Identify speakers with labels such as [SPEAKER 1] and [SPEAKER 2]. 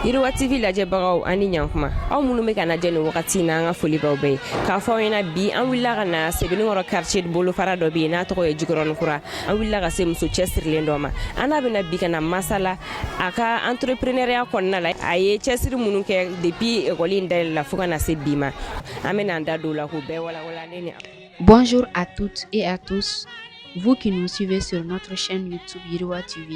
[SPEAKER 1] Yiriwa TV lajɛbagaw ani ɲkuma aw minnu bɛ k'an lajɛ nin wagati na an ka foli b'aw bɛɛ ye k'a fɔ aw ɲɛna bi an wulila ka na Sebeninkɔrɔ quartier bolofara dɔ bɛ yen n'a tɔgɔ ye Jikɔrɔnin kura an wulila ka se muso cɛsirilen dɔ ma an n'a bɛna bi ka na masala a ka entrepreneuriat kɔnɔna la a ye cɛsiri minnu kɛ depuis école in dayɛlɛla fo ka na se bi ma an bɛna an da don o la k'o bɛɛ walawala ne ni Bonjour à toutes et à tous vous qui nous suivez sur notre chaîne YouTube Yiriwa TV